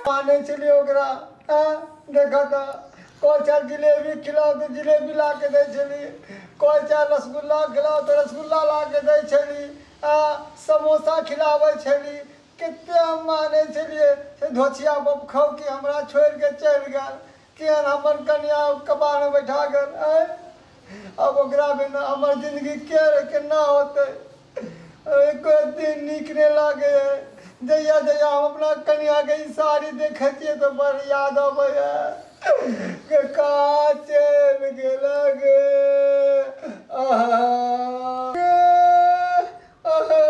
माने छलियै ओकरा आँय, देखऽ तऽ कोइ चाहे जिलेबी खिलाउ तऽ जिलेबी ला के दै छली कोइ चाहे रसगुल्ला खिलाउ तऽ रसगुल्ला ला के दै छली आ समोसा खिलाबै छली कते हम माने छलियै से धोछिया बब खौकी हमरा छोड़ि कऽ चलि गेल केहन हमर कनियाँ ओ कबारमे बैठा गेल, आँय! आब ओकरा बिना हमर जिनगी केहन आ केना होतै? एक्को दिन नीक नै लागैए। जहिया-जहिया हम अपना कनियाँकेँ ई साड़ी देखै छियै तँ बड़ याद अबैए। गै कहाँ चैल गेलह गे? अहह। गे अहह।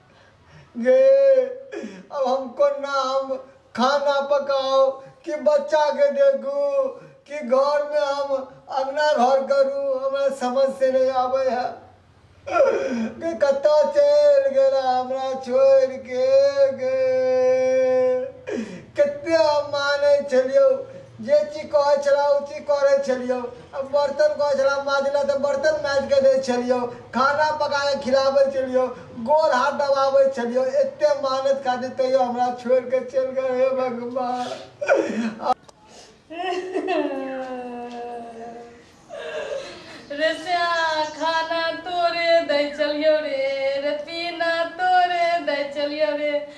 गे अब हम कोना हम खाना पकाउ कि बच्चाके देखू कि घरमे हम अङ्गना घर करू हमरा समझ से नहि आबै है गे कतऽ चलि गेला हमरा छोड़िके गे कते हम मानै छलियौ जे चीज कहै छला ओ चीज करै छलियौ बर्तन कहै छला माजै लए तऽ बर्तन माजि कऽ दै छलियौ खाना पका कऽ खिलाबै छलियौ गोर हाथ दबाबै छलियौ एते मानैत खातिर तैयो हमरा छोड़ि कऽ चलि गेल हे भगवान रे श्याम खाना तोरे दै छलियौ रे रे पीना तोरे दै छलियौ रे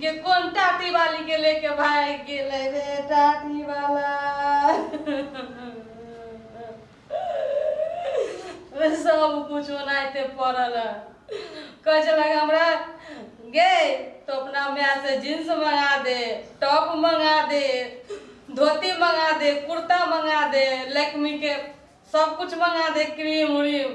गे कोन टाटी वाली के लेके भाग गेले रे टाटी वाला सब कुछ ओनाहिते पड़ल है कहे छलक हमरा गे तो अपना माय से जींस मंगा दे टॉप मंगा दे धोती मंगा दे कुर्ता मंगा दे लैक्मी के सब कुछ मंगा दे क्रीम उरीम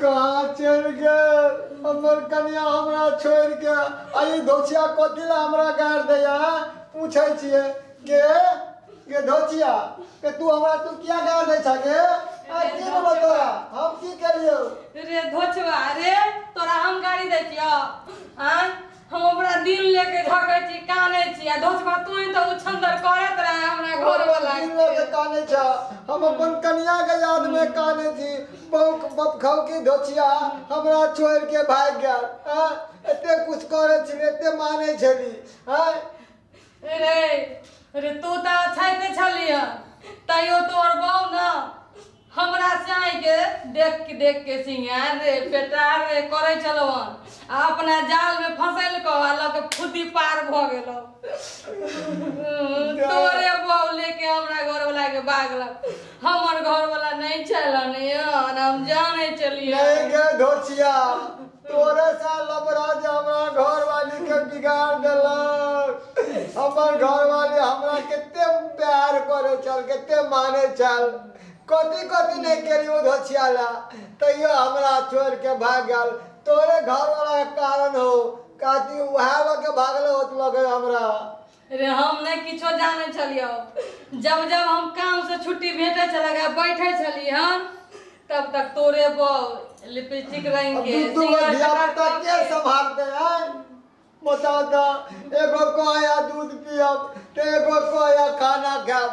कहाँ चलि गेल हमर कनियाँ हमरा छोड़ि कऽ आ ई धोचिया कथी लए हमरा गारि दैए आँय पूछै छियै गे गे धोचिया गे तू हमरा तू किया गारि दै छह गे आँय की भेलौ तोरा हम की केलियौ रे धोचवा रे तोरा हम गाड़ी दैतियो आँय हम ओकरा दिल ले के धके छी काने छी आ धोसबा तू ही तो उछंदर करत रहे हमरा घर वाला दिल लऽ के काने छ हम अपन कनिया के याद में काने छी बहु बपखौ की धोछिया हमरा छोड़ के भाग गया एते कुछ करे छी एते माने छली हैं रे रे तू तऽ अछैते छलिह तैयो तोर बहू न हमरा चाय के देख के देख के सिंगार रे पेटार रे करे चलो आ अपना जाल में फंसल को आ लग फुदी पार भ गेलो तोरे बहू लेके हमरा घर वाला के भागल हमर घर वाला नहीं चलन यार हम जाने चलिए नहीं गे धोचिया तोरे सा लबरा जे हमरा घरवाली के बिगाड़ देलक हमर घरवाली हमरा कते प्यार करे छल कते माने छल कथी कथी नहीं करी ओ धछियाला तैयो हमरा छोड़ के भाग गल तोरे घरवाला के कारण हो काती उहावा के भागले होत लगे हमरा रे हम नहि किछो जानै छलियौ जब जब हम काम से छुट्टी भेटै छलक आ बैठे छली हन तब तक तोरे बहु लिपस्टिक रंग अब के दू दू गो सिंगार धिया कलर पुता के सबके। संभालते हैं बताओ तो एगो कहे दूध पियब तो एगो कहे खाना खायब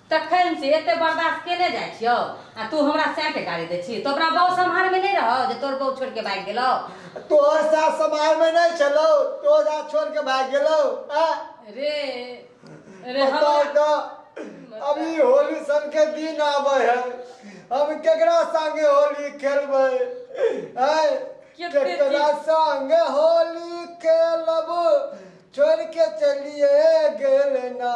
तखन से एते बर्दाश्त केने जाइ छियौ आ तू हमरा सैटे गाड़ी दै छी तो ओकरा बहु सम्हार में नहीं रहो जे तोर बहु छोड़ के भाग गेलो तोहर सास समाज में नहीं चलो तोहर सास छोड़ के भाग गेलो आ रे रे पता हम तो अभी होली सन के दिन आवे है हम केकरा संगे होली खेलबे हैं केते केकरा संगे होली खेलब छोड़ के चलिए गेल ना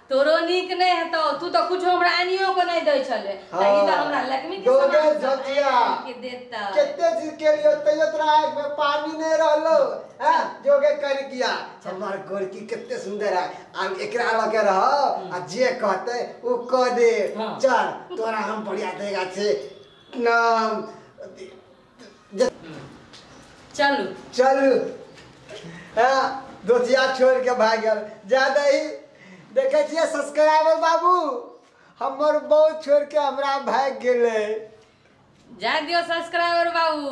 तोरो नीक नहि हेतौ तू तऽ कुछ हमरा आनियो के नहि दै छले हँ। ई तऽ हमरा लक्ष्मी के दो दे सामान सब झचिया। आनि के देता केते चीज के लिए तैयो तोरा आँख में पानी नहीं रहलो हैं जोगे कर गया हमार गोरकी केते सुंदर है आ एकरा लगे रह आ जे कहते उ कह दे हाँ। चल तोरा हम बढ़िया देगा छे नाम चलू चलू हाँ दोतिया छोड़ के भाग गल जा दही देखे छिए सब्सक्राइबर बाबू हमर बहू छोड़ के हमरा भाग गेले जाए दियो सब्सक्राइबर बाबू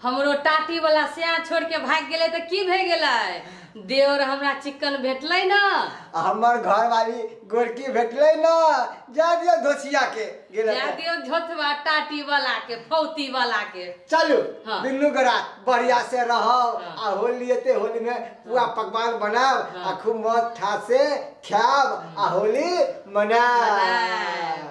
हमरो टाटी वाला सिया छोड़ के भाग गेले तो की भे गेले देवर हमरा चिकन भेटले ना आ हमर घरवाली गोरकी भेटले ना जा दियो धोसिया के गेला जा दियो झोथवा टाटी वाला के फौती वाला के चलू हाँ। दुनू गोरा बढ़िया से रहो हाँ। आ होली एते होली में पूरा पकवान बनाओ आ हाँ। खूब मौज ठा से खाओ आ होली मनाओ मनाओ।